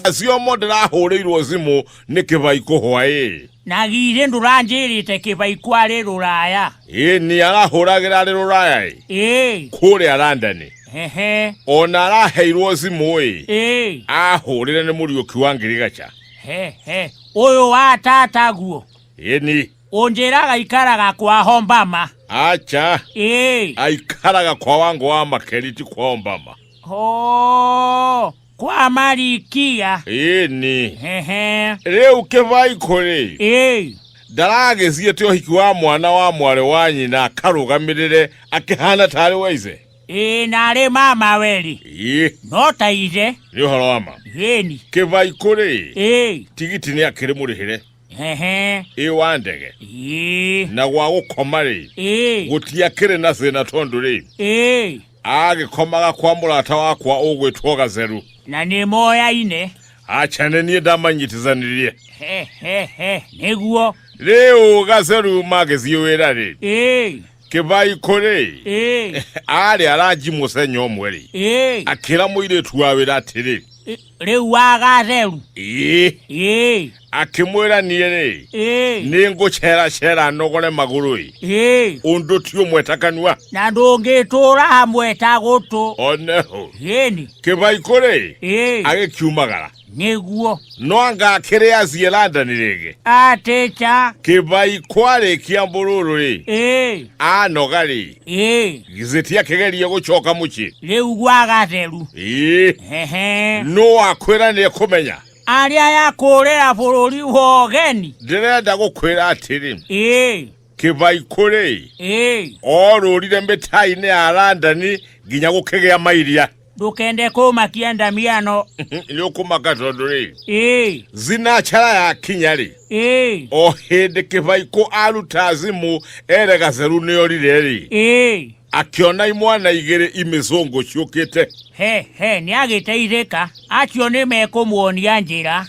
acio mo ndĩrahũrĩirwo thimũ nĩ kĩbai kũhwa ĩ na githĩ ndũranjĩrĩte kĩbai kwarĩ rũraya ĩ nĩ arahũragĩra arĩ rũraya ĩ ĩĩ kũrĩa randani hehe ona araheirwo thimũ ĩ ĩĩ ahũrĩre nĩ mũriũki wa ngirigaca hehe ũyũ wa tata guo ĩni ũnjĩraga ikaraga kwa hombama acha ĩĩ aikaraga kwa wango wa makeri ti kwa ombama Oh, kwa malikia ĩni hehe rĩu kĩvai kũrĩ ĩĩ ndaragĩciĩte ũhiki wa mwana wa mwarĩ wa nyina akarũgamĩrĩre akĩhana tarĩ wa ice ĩĩ narĩ mama werĩ ĩ no ta ithe nĩ ũhoro wa ma ĩni kĩvai kũrĩ ĩĩ tigiti nĩ akĩrĩ mũrĩhĩre ehe ĩ wa ndege ii na gwa gũkoma rĩ ii gũtiakĩrĩ na thĩna tondũ rĩ ii agĩkomaga kwa mũrata wakwa ũgwĩtwo gatheru na nĩ moyaine acha nĩ niĩ ndamanyitithanirie he he he nĩguo rĩu gatheru magĩthiĩ wĩra rĩ ii kĩbai kũrĩ Ĩĩ, arĩ aranji mũcenya ũmwe rĩ ĩĩ, akĩra mũirĩtu wa wĩra atĩrĩ ĩ- rĩu wagatheru ĩĩ ĩĩ akĩmwĩra niĩ rĩ ĩĩ nĩ ngũceracera nogore magũrũ ĩ ĩĩ ũndũ ti ũmwe ta kanua na ndũngĩtũũra hamwe ta gũtũ oneho ĩni kĩbai kũrĩ ĩĩ agĩkiumagara Nĩguo. No anga akĩrĩ aciĩ London rĩngĩ? A teacher. Kĩbai kwarĩkia mbũrũrũ rĩ. Ĩĩ. Anoga rĩ. Ĩĩ. Githĩ tiakĩgeria gũcoka mũciĩ? Rĩu gwa gatheru. Ĩĩ. Hehe. Nũ wakwĩra nĩ ekũmenya? Arĩa ya kũũrĩra bũrũri wa ũgeni. Ndĩrenda gũkwĩra atĩrĩ. Ĩĩ. kĩbaikũrĩ ĩĩ orũrire mĩtainĩ ya landani nginya gũkĩgĩa mairia ndũkende kũmakia ndamiano nĩ ũkũmaka tondũ rĩ ĩĩ zinachara yakinya rĩ ĩĩ o hĩndĩ kĩbaikũ aruta thimũ ere gatheru nĩ orire rĩ ĩĩ akĩona imwana igĩrĩ imĩzũngũ ciũkĩte he he nĩ agĩteithĩka acio nĩ mekũmuonia njĩra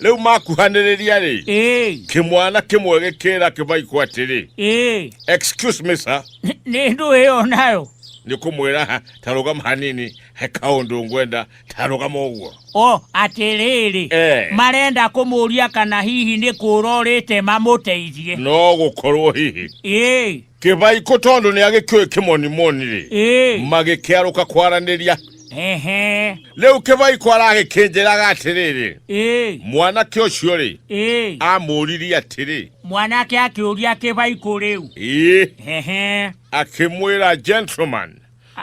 rĩu makuhanĩrĩria rĩ ĩĩ kĩmwana kĩmwe gĩkĩra kĩmaikũ atĩrĩ ĩĩ excuse me sir Nĩ- nĩ ndũ ĩyo nayo nĩ kũmwĩra ha ta rũgama hanini he kaũndũ ngwenda ta rũgama ũguo o atĩrĩrĩ Eh. marenda kũmũria kana hihi nĩ kũra ũrĩte mamũteithie no gũkorwo hihi ĩĩ kĩbaikũ tondũ nĩ agĩkĩũĩ kĩmonimoni rĩ Ĩĩ. magĩkĩarũka kwaranĩria Ehe. rĩu kĩbaikũ aragĩkĩnjĩraga atĩrĩrĩ Ĩĩ. mwanake ũcio rĩ Ĩĩ. amũririe atĩrĩ Mwanake akĩũria kĩbaikũ rĩu. ĩĩ Ehe. akĩmwĩra gentleman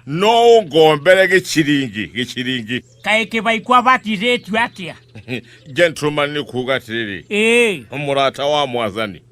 no ũngombere gĩciringi gĩciringi Kaĩ kĩbaikũ abatithĩtio atĩa? gentleman nĩ kuuga atĩrĩrĩ Ĩĩ. mũrata wa mwathani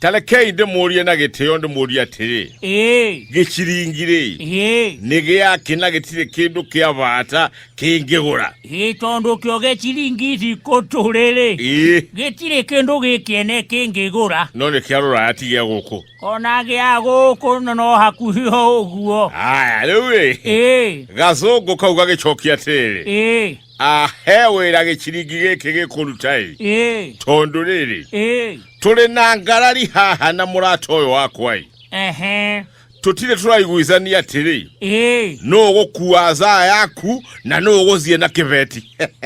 tarekei ndĩmũrie na gĩtĩo ndĩmũrie atĩrĩ Ĩĩ, gĩciringirĩ ĩĩ, nĩ gĩakĩ na gĩtirĩ kĩndũ kĩa bata kĩngĩgũra ĩĩ, tondũ kĩo gĩciringi thikũ tũrĩrĩ ĩĩ gĩtirĩ kĩndũ gĩkĩene kĩngĩgũra no nĩ kĩa rũraya ti gĩa gũkũ ona gĩa gũkũ no- no hakuhĩ o ũguo aya rĩu ĩ ĩĩ gacũngũ kau gagĩcokia atĩrĩ ĩĩ ahe wĩra gĩciringi gĩkĩ gĩkũruta ĩ ĩĩ tondũ rĩrĩ ĩĩ tũrĩ na ngarari haha na mũrata ũyũ wakwa ĩ ehe tũtirĩ tũraiguithania atĩrĩ ĩĩ nũ ũgũkua zaa yaku na nũ ũgũthiĩ na kĩbeti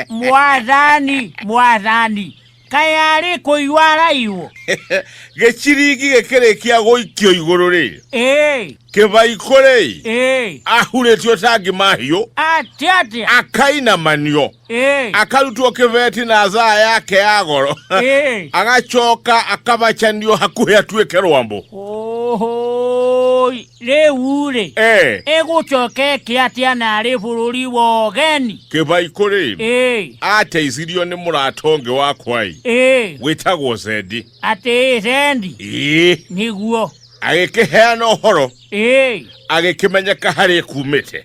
mwathani mwathani kayarĩ kũigua araigwo gĩciringi gĩkĩrĩkia gũikio igũrũ rĩ ĩĩ kĩbaikũ rĩ ĩĩ ahurĩtio tangi mahiũ atĩa atĩa akainamanio ĩĩ akarutwo kĩbeti na thaa yake ya goro ĩĩ agacoka akabacanio hakuhĩ atuĩke rwambo Oi. Rĩu-rĩ, Eh, ĩgũcoka ĩke atĩa narĩ bũrũri wa ũgeni? kĩbaikũ rĩ Ĩĩ, ateithirio nĩ mũrata ũngĩ wakwa-ĩ ĩĩ, wĩtagwo zendi atĩ ĩcendi ĩĩ nĩguo. agĩkĩheana ũhoro Ĩĩ, agĩkĩmenyeka harĩa kumĩte